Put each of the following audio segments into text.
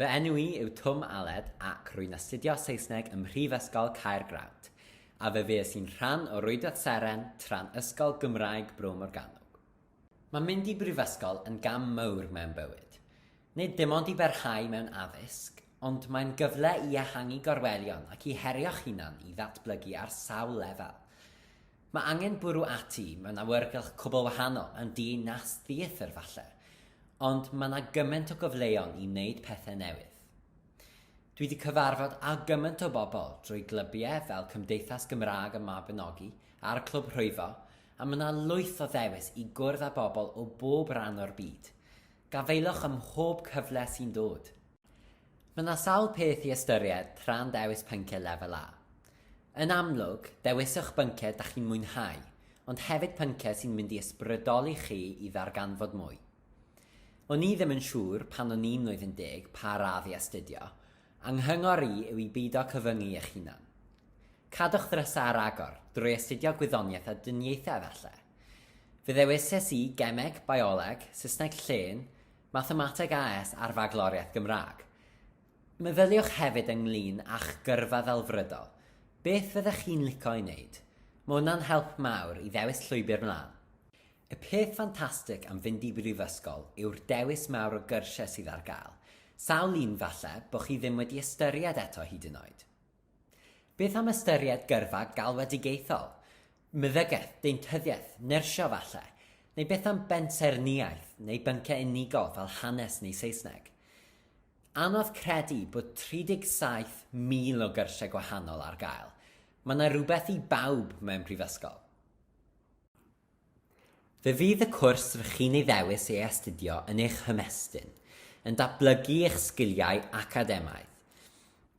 Fy enw i yw Twm Aled ac rwy'n astudio Saesneg ym Mhrifysgol Caergrawnt, a fe fues i'n rhan o Rwydwaith Seren tra'n Ysgol Gymraeg Bro Morgannwg. Mae mynd i brifysgol yn gam mawr mewn bywyd. Nid dim ond i barhau mewn addysg, ond mae'n gyfle i ehangu gorwelion ac i herio'ch hunan i ddatblygu ar sawl lefel. Mae angen bwrw ati mewn awyrgylch cwbl wahanol yn dyn nas theatr falle, ond mae 'na gymaint o gyfleon i neud pethe newydd. Dwi 'di cyfarfod â gymaint o bobl drwy glybiau fel Cymdeithas Gymraeg y Mabinogi a'r Clwb Rhwyfo a mae 'na lwyth o ddewis i gwrdd â bobl o bob ran o'r byd. Gafaelwch ym mhob cyfle sy'n dod! Mae yna sawl peth i ystyried tra'n dewis pynciau Lefel A. Yn amlwg, dewiswch bynciau da chi'n mwynhau, ond hefyd pynciau sy'n mynd i ysbrydoli chi i ddarganfod mwy. O'n i ddim yn siŵr pan o'n i'n mlwyddyn deg pa radd i astudio, a nghyngor i yw i beido cyfyngu eich hunan. Cadwch ddrysau ar agor, drwy astudio gwyddoniaeth a dyniaethau efallai. Fe ddewises i Gemeg, Bioleg, Saesneg Llên, Mathemateg AS a'r Fagloriaeth Gymraeg. Meddyliwch hefyd ynglŷn â'ch gyrfa ddelfrydol. Beth fyddech chi'n lico ei wneud? Mae hwnna'n help mawr i ddewis llwybr mlaen. Y peth ffantastig am fynd i brifysgol yw'r dewis mawr o gyrsiau sydd ar gael. Sawl un, falle, bo' chi ddim wedi ystyried eto hyd yn oed. Beth am ystyried gyrfa galwedigaethol, meddygaeth, deintyddiaeth, nyrsio falle? Neu beth am bensaernïaeth neu bynciau unigol fel hanes neu Saesneg? Anodd credu bod 37,000 o gyrsiau gwahanol ar gael. Mae 'na rywbeth i bawb mewn prifysgol. Fe fydd y cwrs rŷch chi'n ei ddewis ei astudio yn eich hymestyn, yn datblygu eich sgiliau academaidd.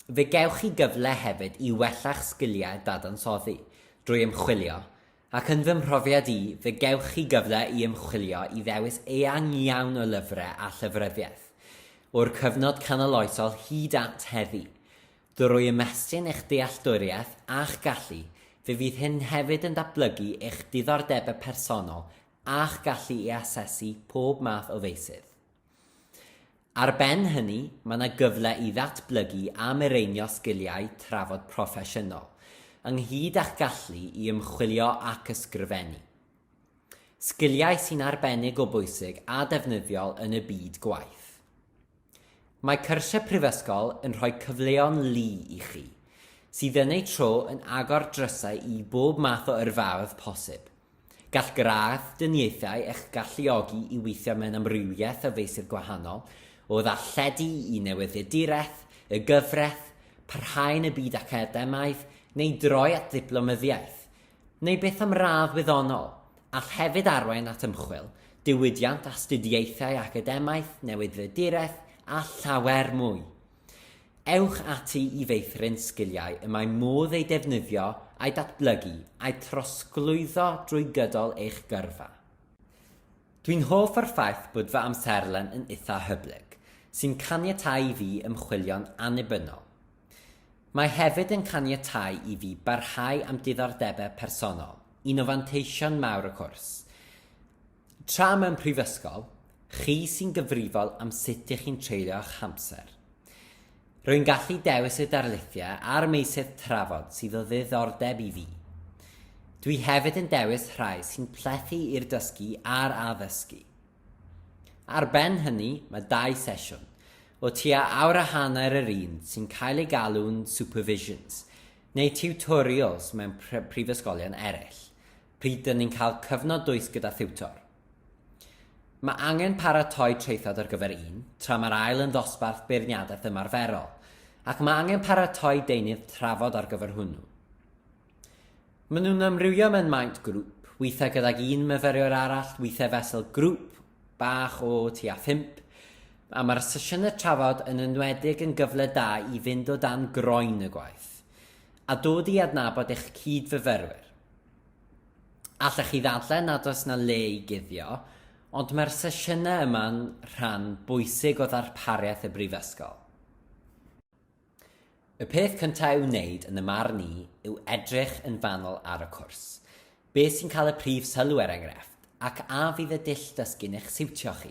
Fe gewch chi gyfle hefyd i wella'ch sgiliau dadansoddi, drwy ymchwilio, ac yn fy mhrofiad i, fe gewch chi gyfle i ymchwilio i ddewis eang iawn o lyfrau a llyfryddiaeth, o'r cyfnod canoloesol hyd at heddi. Drwy ymestyn eich dealltwriaeth a'ch gallu, fe fydd hyn hefyd yn datblygu eich diddordebau personol a'ch gallu i asesu pob math o feysydd. Ar ben hynny, mae yna gyfle i ddatblygu a mireinio sgiliau trafod proffesiynol, ynghyd â'ch gallu i ymchwilio ac ysgrifennu. Sgiliau sy'n arbennig o bwysig a defnyddiol yn y byd gwaith. Mae cyrsiau prifysgol yn rhoi cyfleon lu i chi, sydd yn eu tro yn agor drysau i bob math o yrfaoedd posib. Gall gradd dyniaethau eich galluogi i weithio mewn amrywiaeth o feysydd gwahanol, o ddarlledu i newyddiaduraeth, y gyfraith, parhau yn y byd academaidd, neu droi at ddiplomyddiaeth, neu beth am radd wyddonol, all hefyd arwain at ymchwil, diwydiant, astudiaethau academaidd, newydddyduraeth a llawer mwy. Ewch ati i feithrin sgiliau y mae modd eu defnyddio, a'u datblygu, a'u trosglwyddo drwy gydol eich gyrfa. Dwi'n hoff o'r ffaith bod fy amserlen yn itha hyblyg, sy'n caniatáu i fi ymchwilio'n annibynnol. Mae hefyd yn caniatáu i fi barhau â'm diddordebau personol, un o fanteision mawr y cwrs. Tra mewn prifysgol, chi sy'n gyfrifol am sut ych chi'n treulio'ch hamser. Rwy'n gallu dewis y darlithiau a'r meysydd trafod sydd o ddiddordeb i fi. Dwi hefyd yn dewis rhai sy'n plethu i'r dysgu a'r addysgu. Ar ben hynny, mae dau sesiwn, O tua awr a hanner yr un sy'n cael ei galw'n supervisions, neu tiwtorials mewn prifysgolion eraill, pryd dŷn ni'n cael cyfnod dwys gyda thiwtor. Mae angen paratoi traethawd ar gyfer un, tra mae'r ail yn ddosbarth beirniadaeth ymarferol, ac mae angen paratoi deunydd trafod ar gyfer hwnnw. Maen nhw'n amrywio mewn maint grŵp, weithiau gydag un myfyriwr arall, weithiau fesul grŵp bach o tua phump, a mae'r sesiynau trafod yn enwedig yn gyfle da i fynd o dan groen y gwaith a dod i adnabod eich cyd-fyfyrwyr. Allech chi ddadlau nad oes na le i guddio, ond mae'r sesiynau yma'n rhan bwysig o ddarpariaeth y Brifysgol. Y peth cyntaf i'w wneud yn y marn i yw edrych yn fanwl ar y cwrs. Beth sy'n cael y prif sylw er enghraifft, ac a fydd y dull dysgu'n eich siwtio chi?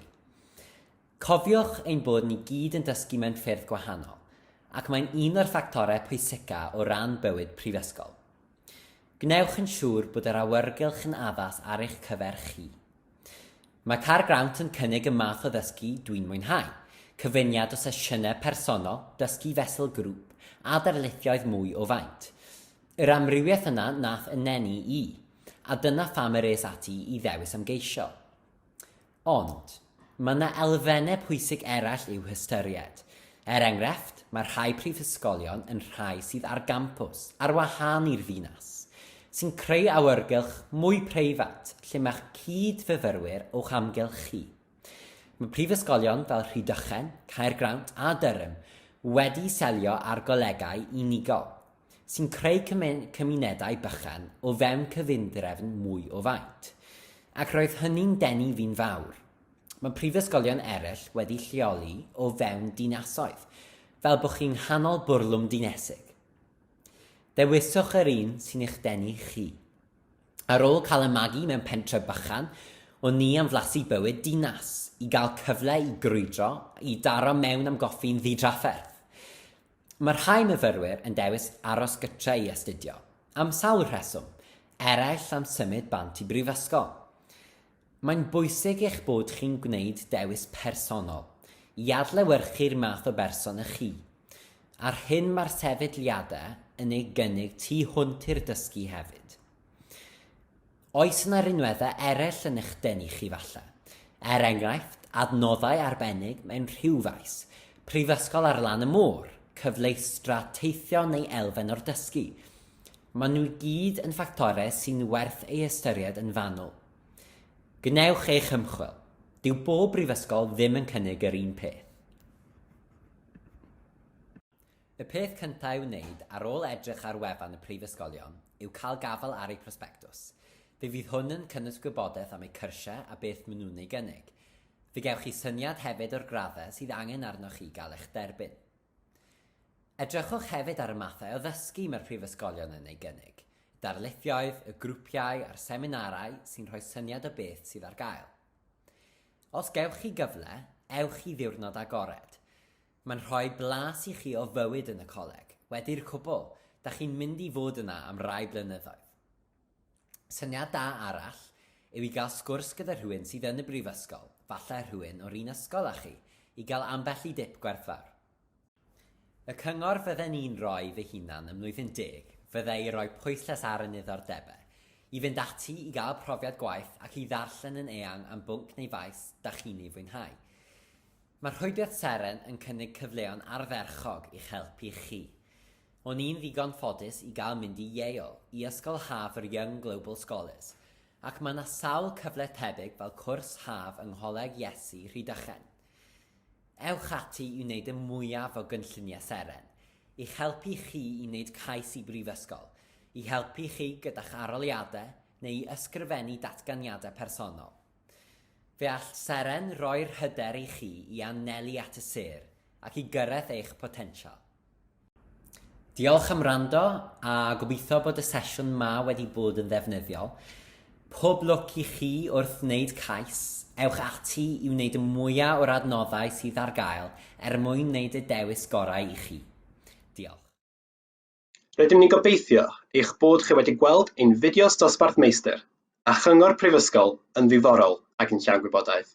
Cofiwch ein bod ni gyd yn dysgu mewn ffyrdd gwahanol, ac mae'n un o'r ffactorau pwysica o ran bywyd prifysgol. Gwnewch yn siŵr bod yr awyrgylch yn addas ar eich cyfer chi. Mae Car Grawnt yn cynnig y math o ddysgu dwi'n mwynhau, cyfuniad o sesiynau personol, dysgu fesul grŵp, a darlithioedd mwy o faint. Yr amrywiaeth yna nath 'y neni i, a dyna pham yr es ati i ddewis ymgeisio. Ond, mae yna elfennau pwysig eraill i'w hystyried. Er enghraifft, mae rhai prifysgolion yn rhai sydd ar gampws, ar wahân i'r ddinas, sy'n creu awyrgylch mwy preifat lle mae'ch cyd-fyfyrwyr o'ch amgylch chi. Mae prifysgolion fel Rhydychen, Caergrawnt a Durham wedi selio ar golegau unigol. sy'n creu cymunedau bychan o fewn cyfundrefn mwy o faint, ac roedd hynny'n denu fi'n fawr. Mae prifysgolion eraill wedi lleoli o fewn dinasoedd, fel bod chi'n nghanol bwrlwm dinesig. Dewiswch yr un sy'n eich denu chi. Ar ôl cael y magu mewn pentre bychan, o'n ni am flasu bywyd dinas, i gael cyfle i grwydro, i daro mewn am goffi'n ddidrafferth. Mae rhai myfyrwyr yn dewis aros gytre i astudio, am sawl rheswm, eraill am symud bant i brifysgol. Mae'n bwysig eich bod chi'n gwneud dewis personol, i adlewyrchu'r math o berson ych chi, a'r hyn mae'r sefydliadau yn ei gynnig tu hwnt i'r dysgu hefyd. Oes yna rinweddau eraill yn eich denu chi falle? Er enghraifft, adnoddau arbennig mewn rhyw faes, prifysgol ar lan y môr, cyfleustra teithio neu elfen o'r dysgu? Maen nhw i gyd yn ffactorau sy'n werth ei ystyried yn fanwl. Gwnewch eich ymchwil. Dyw bob brifysgol ddim yn cynnig yr un peth. Y peth cyntaf i'w wneud ar ôl edrych ar wefan y Prifysgolion yw cael gafael ar eu prosbectws. Fe fydd hwn yn cynnwys gwybodaeth am eu cyrsiau a beth maen nhw'n ei gynnig. Fe gewch chi syniad hefyd o'r graddau sydd angen arnoch chi gael eich derbyn. Edrychwch hefyd ar y mathau o ddysgu mae'r Prifysgolion yn ei gynnig, y darlithioedd, y grwpiau a'r seminarau sy'n rhoi syniad o beth sydd ar gael. Os gewch chi gyfle, ewch i ddiwrnod agored. Mae'n rhoi blas i chi o fywyd yn y coleg, wedi'r cwbl, da chi'n mynd i fod yna am rai blynyddoedd. Syniad da arall yw i gael sgwrs gyda rhywun sydd yn y brifysgol, falle rhywun o'r un ysgol â chi, i gael ambell i dip gwerthfawr. Y cyngor fydden i'n rhoi fy hunan ym Mlwyddyn Deg fyddai i roi pwyslais ar y niddordebau, i fynd ati i gael profiad gwaith ac i ddarllen yn eang am bwnc neu faes da chi'n ei fwynhau. Mae Rhwydwaith Seren yn cynnig cyfleon ardderchog i'ch helpu chi. O'n i'n ddigon ffodus i gael mynd i Yale i ysgol haf yr Young Global Scholars, ac mae 'na sawl cyfle tebyg fel cwrs haf yng Ngholeg Iesu, Rhydychen. Ewch ati i wneud y mwyaf o gynlluniau Seren, i'ch helpu chi i wneud cais i brifysgol, i helpu chi gyda'ch arholiadau neu i ysgrifennu datganiadau personol. Fe all Seren roi'r hyder i chi i anelu at y sêr ac i gyrraedd eich potensial. Diolch am wrando a gobeithio bod y sesiwn ma wedi bod yn ddefnyddiol. Pob lwc i chi wrth wneud cais. Ewch ati i wneud y mwyaf o'r adnoddau sydd ar gael er mwyn wneud y dewis gorau i chi. Diolch. Rydym ni'n gobeithio eich bod chi wedi gweld ein fideos dosbarth meistr a chyngor prifysgol yn ddiddorol ac yn llawn gwybodaeth.